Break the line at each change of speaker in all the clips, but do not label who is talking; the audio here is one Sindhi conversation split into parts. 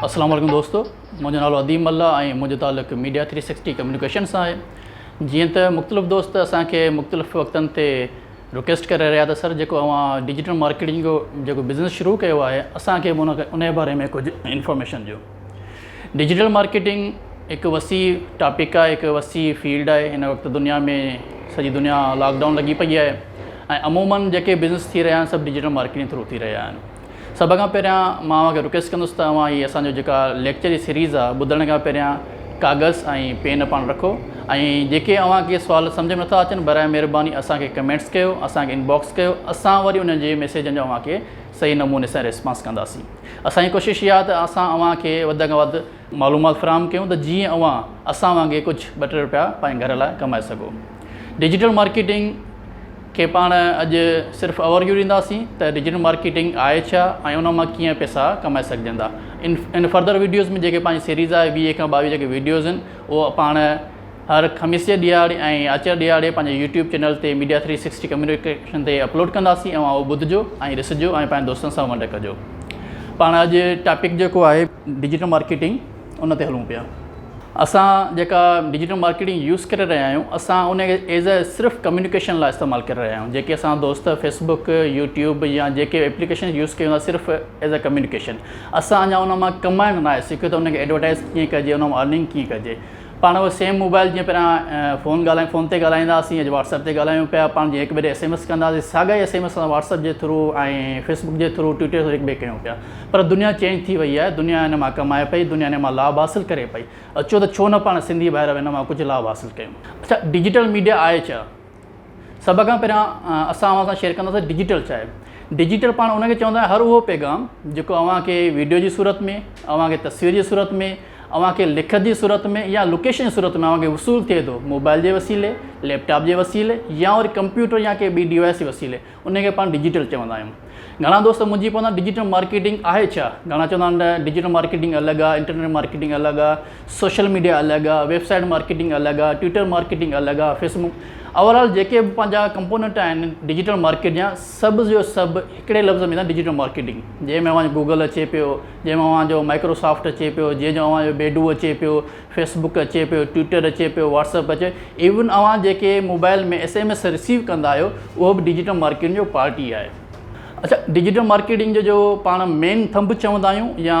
اسلام عليڪم دوستو منهنجو نالو اديم الله ۽ منهنجو تعلق ميڊيا ٿري سڪسٽي ڪميونيڪيشن سان آهي جيئن ته مختلف دوست اسان کي مختلف وقتن تي رڪويسٽ ڪري رهيا ته سر جيڪو اوهان ڊجيٽل مارڪيٽنگ جو جيڪو بزنس شروع ڪيو آهي اسان کي به ان باري ۾ ڪجهه انفارميشن ڏيو ڊجيٽل مارڪيٽنگ هڪ وسيع ٽاپڪ آهي هڪ وسيع فيلڊ آهي هن وقت دنيا ۾ سڄي دنيا لاڪ ڊائون لڳي پئي آهي ۽ عمومن جيڪي بزنس ٿي رهيا آهن سڀ ڊجيٽل مارڪيٽنگ ٿرو ٿي رهيا آهن سڀ کان پهريان مان اوهان کي رڪويسٽ ڪندس ته اوهان هي اسانجو جيڪا ليڪچر جي سيريز آهي ٻڌڻ کان پهريان ڪاغذ ۽ پين پاڻ رکو ۽ جيڪي اوهان کي سوال سمجهه ۾ نٿا اچن برائي مهرباني اسان کي ڪمينٽس ڪيو اسان کي انباڪس ڪيو اسان وري ان جي ميسيجن جا اوهان کي صحيح نموني سان ريسپانس ڪنداسين اسان جي ڪوشش اها ته اسان اوهان کي وڌ کان وڌ معلومات فراهم ڪيون ته جيئن اوهان اسان وانگي ڪجهه ٻه ٽي روپيا پنهنجي گهر لاء ڪمائي سگهو ڊجيٽل مارڪيٽنگ کي پاڻ اڄ صرف اوور ويو ڏينداسين ته ڊجيٽل مارڪيٽنگ آهي ڇا ۽ ان مان ڪيئن پيسا ڪمائي سگهجندا ان ان فرڌر ويڊيوز ۾ جيڪي پنهنجي سيريز آهي ويهه کان ٻاويهه جيڪي ويڊيوز آهن اهو پاڻ هر خميس جي ڏهاڙي ۽ آچر ڏهاڙي پنهنجي يوٽيوب چينل تي ميڊيا ٿري سڪسٽي ڪميونيڪيشن تي اپلوڊ ڪنداسين اوهان اهو ٻڌجو ۽ ڏسجو ۽ پنهنجي دوستن سان ونڊ ڪجو پاڻ اڄ ٽاپڪ جيڪو آهي ڊجيٽل مارڪيٽنگ ان تي هلون پيا اسان جيڪا ڊجيٽل مارڪيٽنگ يوز ڪري رهيا آهيون اسان ان کي ايز اي صرف ڪميونيڪيشن لاء استعمال ڪري رهيا آهيون جيڪي اسان دوست فيسبوڪ يوٽيوب يا جيڪي اپليڪيشن يوز ڪيون ٿا صرف ايز اي ڪميونيڪيشن اسان اڃا ان مان ڪمائڻ ناهي سکيو ته ان کي ايڊورٽائز ڪيئن ڪجي ان مان ارننگ ڪيئن ڪجي پاڻ اهو سيم موبائل جيئن پهريان فون ڳالهائي فون تي ڳالهائيندا هئاسين اڄ واٽس ايپ تي ڳالهايون پيا پاڻ جيئن هڪ ٻئي ڏي ايس ايم ايس ڪندا هئاسين ساڳا ئي ايس ايم ايس اسان واٽس ايپ جي ٿرو ۽ فيس بڪ جي ٿرو ٽوئٽر جي ٿرو هڪ ٻئي ڪيون پيا پر دنيا چينج ٿي وئي آهي دنيا ان مان ڪمائي پئي دنيا ان مان لاڀ حاصل ڪري پئي اچو ته ڇو نه پاڻ سنڌي ڀائر به ان مان ڪجهه لاڀ حاصل ڪيون اڇا ڊجيٽل ميڊيا آهي ڇا؟ سڀ کان پهريان اسان اوهان سان شيئر ڪنداسين ڊجيٽل ڇا آهي ڊجيٽل پاڻ ان کي چوندا آهن هر اهو پيغام جيڪو اوهان کي ويڊيو جي صورت ۾ اوهان کي تصوير جي صورت ۾ اوهان کي لکت جي صورت ۾ يا لوڪيشن جي صورت ۾ اوهان کي وصول ٿئي ٿو موبائل جي وسيلي ليپ ٽاپ جي وسيلي يا وري ڪمپيوٽر يا ڪي ٻي ڊوائس جي وسيلي انهي کي پاڻ ڊجيٽل چوندا آهيون. گهڻا دوست منهنجي پوندان ڊجيٽل مارڪيٽنگ آهي ڇا؟ گهڻا چوندا آهن نه ڊجيٽل مارڪيٽنگ الڳ آهي، انٽرنيٽ مارڪيٽنگ الڳ آهي، سوشل ميڊيا الڳ آهي، ويب سائيٽ مارڪيٽنگ الڳ آهي، ٽوئيٽر مارڪيٽنگ الڳ آهي، فيس بڪ اوور آل جيڪي به پنهنجا ڪمپونينٽ آهن ڊجيٽل مارڪيٽ جا سڀ جو سڀ هڪڙي لفظ ۾ ڊجيٽل مارڪيٽنگ جنهن ۾ اوهان جو گوگل اچي پيو، جنهن ۾ اوهان جو مائڪرو سافٽ اچي پيو، جنهن جو اوهان جو بيڊو اچي پيو، فيس بڪ اچي پيو، ٽوئيٽر اچي پيو، واٽس اپ اچي ايون اوهان جيڪي mobile ۾ S M S receive ڪندا آهيو اهو به ڊجيٽل مارڪيٽنگ جو پارٽ ئي آهي. اڇا ڊجيٽل مارڪيٽنگ جو جو پاڻ مين ٿنڀ چوندا آهيون يا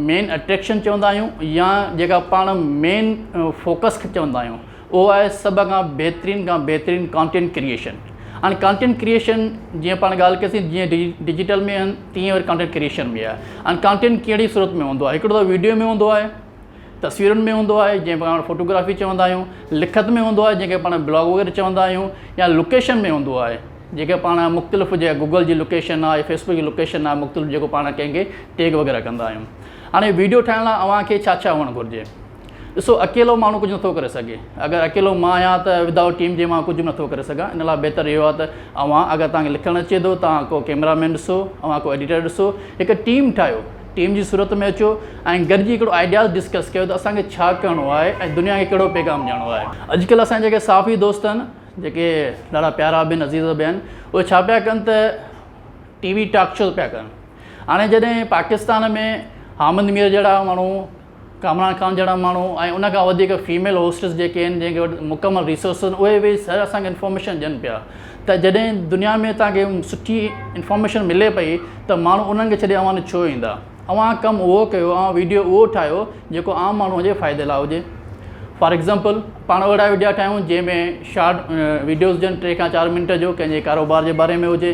مين اٽريڪشن چوندا آهيون يا جيڪا پاڻ مين فوڪس کي چوندا آهيون اهو آهي سڀ کان بهترين کان بهترين ڪانٽينٽ ڪريئشن هاڻي ڪانٽينٽ ڪريئشن جيئن پاڻ ڳالهه ڪياسين جيئن ڊي ڊجيٽل ۾ آهن تيئن وري ڪانٽينٽ ڪريئشن ۾ آهي هاڻي ڪانٽينٽ ڪهڙي صورت ۾ هوندو آهي هڪڙو ته ويڊيو ۾ هوندو آهي تصويرن ۾ هوندو آهي جنهن کي پاڻ فوٽوگرافي چوندا آهيون لکت ۾ هوندو آهي جنهن کي پاڻ بلاگ وغيره چوندا آهيون يا لوڪيشن ۾ هوندو آهي جنهن کي پاڻ مختلف جي گوگل جي لوڪيشن آهي فيسبڪ جي لوڪيشن آهي مختلف جيڪو پاڻ ڪنهن کي ٽيگ وغيره ڪندا آهيون هاڻي ويڊيو ٺاهڻ لاء اوهان کي ڇا ڇا هئڻ گهرجي ڏسو اڪيلو ماڻهو ڪجهه نٿو ڪري سگهي اگر اڪيلو مان آهيان ته ودائوٽ ٽيم جي مان ڪجهه به نٿو ڪري سگهان ان لاء بهتر اهو آهي ته اوهان اگر توهان کي لکڻ اچي ٿو توهان ڪو ڪيمرا مين ڏسو اوهان ڪو ايڊيٽر ڏسو هڪ ٽيم ٺاهيو ٽيم جي صورت ۾ اچو ۽ گڏجي هڪڙو آئيڊياز ڊسڪس ڪيو ته اسان کي ڇا ڪرڻو آهي ۽ دنيا کي ڪهڙو پيغام ڏيڻو آهي. اڄڪلهه اسان جا جيڪي صحافي دوست آهن جيڪي ڏاڍا پيارا به آهن عزيز به آهن اهي ڇا پيا ڪن ته ٽي وي ٽاڪ شوز پيا ڪن هاڻي جڏهن پاڪستان ۾ حامد مير جهڙا ماڻهو ڪامران خان جهڙا ماڻهو ۽ ان کان وڌيڪ فيميل هوسٽس جيڪي آهن جن کي وٽ مڪمل ريسورسز آهن اهي ويهي سر اسان کي انفارميشن ڏين پيا ته جڏهن دنيا ۾ تهان کي سٺي انفارميشن ملي پئي ته ماڻهو انهن کي ڇڏي اوهان ڏي ڇو ايندا اوهان ڪم اهو ڪيو اوهان ويڊيو اهو ٺاهيو جيڪو عام ماڻهو جي فائدي لاء هجي فار ايگزامپل پاڻ اهڙا وڊيا ٺاهيون جنهن ۾ شارٽ وڊيوز ڏين ٽي کان چار منٽ جو ڪنهن جي ڪاروبار جي باري ۾ هجي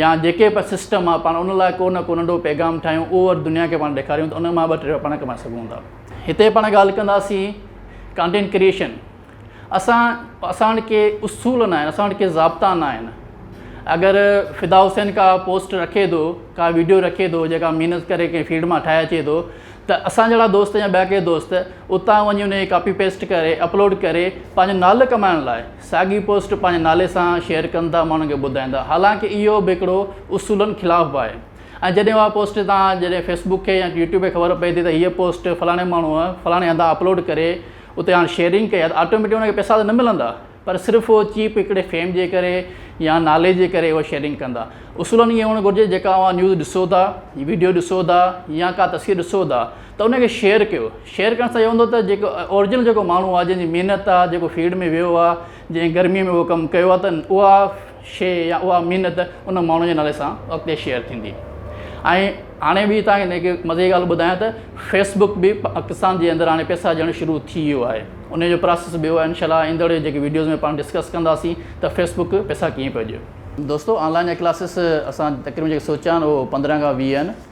يا جيڪي به سسٽم آ پاڻ ان لاء ڪو نه ڪو ننڍو پيغام ٺاهيون اهو وري دنيا کي پاڻ ڏيکاريون ته ان مان ٻه ٽي رپيا پاڻ ڪمائي سگهون ٿا هتي پاڻ ڳالهه ڪنداسين ڪانٽينٽ ڪريئشن اسان اسان وٽ ڪي اصول ناهن اسان وٽ ڪي ضابطا ناهن اگر فدا حسين کا پوسٽ رکي ٿو کا ويڊيو رکي ٿو جيڪا محنت ڪري ڪنهن فيلڊ مان ٺاهي اچي ٿو ته اسان جهڙا دوست يا ٻيا ڪي دوست اتان وڃي ان کي ڪاپي پيسٽ ڪري اپلوڊ ڪري پنهنجو نالو ڪمائڻ لاء ساڳي پوسٽ پنهنجي نالي سان شيئر ڪن ٿا ماڻهن کي ٻڌائيندا حالانڪ اهو به هڪڙو اصولن خلاف به آهي ۽ جڏهن اها پوسٽ تان جڏهن فيسبوڪ کي يا يوٽيوب کي خبر پئي ٿي ته هيء پوسٽ فلاڻي ماڻهو فلاڻي هنڌان اپلوڊ ڪري اتي هاڻ شيئرنگ ڪئي آهي ته آٽوميٽڪ ان کي پئسا ته نه ملندا پر صرف اهو چيپ هڪڙي فيم جي ڪري يا نالي جي ڪري اهو شيئرنگ ڪندا اصولن ائين هئڻ گهرجي جيڪا اوهان نيوز ڏسو ٿا ويڊيو ڏسو ٿا يا ڪا تصوير ڏسو ٿا ته ان کي شيئر ڪيو شيئر ڪرڻ سان اهو هوندو ته جيڪو اورجنل جيڪو ماڻهو آهي جنهنجي محنت آهي جيڪو فيلڊ ۾ ويو آهي جنهن گرمي ۾ اهو ڪم ڪيو آهي ته اها شيء يا اها محنت ان ماڻهو جي نالي سان اڳتي شيئر ٿيندي ۽ هاڻي ٻي تان هن کي مزي جي ڳالهه ٻڌايان ته فيسبڪ به پاڪستان جي اندر هاڻي پئسا ڏيڻ شروع ٿي ويو آهي ان جو پراسيس به اهو آهي انشاء الله ايندڙ جيڪي ويڊيوز ۾ پاڻ ڊسڪس ڪنداسين ته فيسبڪ پئسا ڪيئن پيو ڏي دوستو آن لائن جا ڪلاسز اسان تقريبن جيڪي سوچيا آهن اهو پندرهن کان ويهه آهن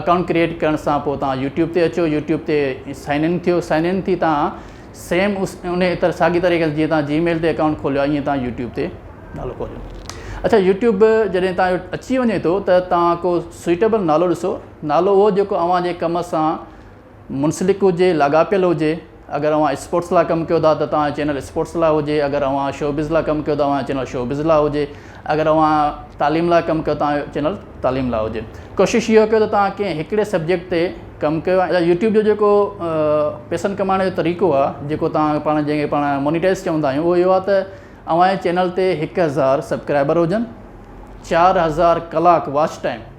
اڪائونٽ ڪريئيٽ ڪرڻ سان پوء توهان يوٽيوب تي اچو يوٽيوب تي سائن ان ٿيو سائن ان ٿي توهان سيم اس ان طرح ساڳي طريقي جيئن توهان جي ميل تي اڪائونٽ کوليو ائين توهان يوٽيوب تي نالو کوليو اچھا يوٽيوب جڏهن توهان اچي وڃي ٿو ته توهان ڪو سوئيٽيبل نالو ڏسو نالو اهو جيڪو اوهان جي ڪم سان منسلڪ هجي لاڳاپيل هجي اگر اوهان اسپورٽس لا ڪم ڪيو ٿا ته توهان جو چينل اسپورٽس لا هجي اگر اوهان شوبز لا ڪم ڪيو ته اوهان جو چينل شوبز لا هجي اگر اوهان تعليم لا ڪم ڪيو توهان جو چينل تعليم لا هجي ڪوشش اهو ڪيو ته توهان ڪنهن هڪڙي سبجيڪٽ تي ڪم ڪيو ۽ يوٽيوب جو جيڪو پيسن ڪمائڻ جو طريقو آهي جيڪو توهان پاڻ جنهن کي پاڻ مونيٽائز چوندا آهيون اهو اهو آهي ته اوهان جي چينل تي هڪ هزار سبڪرائبر هجن چار هزار ڪلاڪ واچ ٽائيم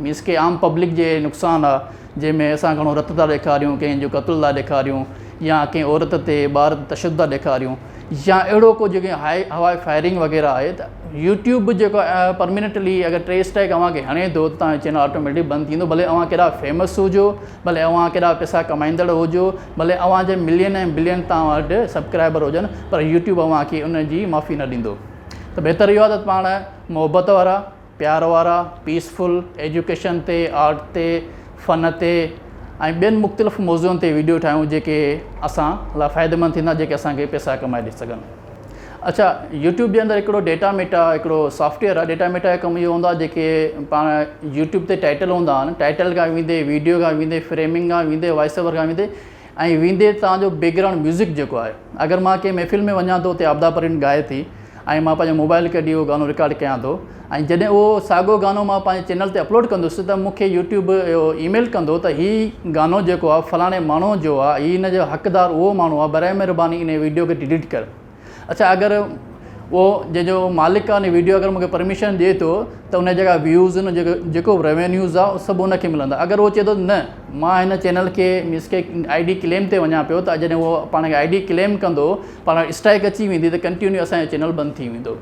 مينس ڪي عام پبلڪ جي نقصان آ جنهن ۾ اسان گهڻو رت ٿا ڏيکاريون ڪنهن جو قتل ٿا ڏيکاريون يا ڪنهن عورت تي ٻار تي تشدد ٿا ڏيکاريون يا اهڙو ڪو جيڪي هائي هوائي فائرنگ وغيره آهي ته يوٽيوب به جيڪو پرمينٽلي اگر ٽي اسٽرائڪ اوهان کي هڻي ٿو ته تهنجو چينل آٽوميٽڪ بند ٿيندو ڀلي اوهان ڪيڏا فيمس هجو ڀلي اوهان ڪيڏا پيسا ڪمائيندڙ هجو ڀلي اوهان جي ملين ۽ بلين تان وٽ سبڪرائبر هجن پر يوٽيوب اوهان کي ان جي معافي نه ڏيندو ته بهتر اهو آهي ته پاڻ محبت وارا پيار وارا، پيسفل، ايجوڪيشن تي، آرٽ تي، فن تي ۽ ٻين مختلف موضوعن تي ويڊيو ٺاهيون جيڪي اسان لا فائديمند ٿيندا جيڪي اسان کي پيسا ڪمائي ڏئي سگهن. اڇا يوٽيوب جي اندر هڪڙو ڊيٽا ميٽا هڪڙو سافٽ ويئر آهي ڊيٽا ميٽا جو ڪم اهو هوندو آهي جيڪي پاڻ يوٽيوب تي ٽائٽل هوندا آهن ٽائٽل کان ويندي ويڊيو کان ويندي فريمنگ کان ويندي وائس اوور کان ويندي ۽ ويندي تان جو بيڪ گرائونڊ ميوزڪ جيڪو آهي اگر مان ڪنهن محفل ۾ وڃان ٿو اتي عابده پروين ڳائي ٿي ۽ مان پنهنجو موبائل ڪڍي اهو گانو رڪارڊ ڪيان ٿو ۽ جڏهن اهو ساڳو گانو مان پنهنجي چينل تي اپلوڊ ڪندس ته مون کي يوٽيوب اهو اي ميل ڪندو ته هي گانو جيڪو آهي فلاڻي ماڻهو جو آهي هي ان جو حقدار اهو ماڻهو آهي برائي مهرباني انهي ويڊيو کي ڊليٽ ڪر اڇا اگر اهو جنهنجو مالڪ آهي ان ويڊيو اگر مونکي پرميشن ڏي ٿو ته ان جا جيڪا ويوز ان جيڪو جيڪو به ريونيوز آهي سڀ ان کي ملندا اگر اهو چئي ٿو نه مان هن چينل کي مينس کي آئي ڊي ڪليم تي وڃان پيو ته جڏهن اهو پاڻ کي آئي ڊي ڪليم ڪندو پاڻ اسٽرائڪ اچي ويندي ته ڪنٽينيو اسانجو چينل بند ٿي ويندو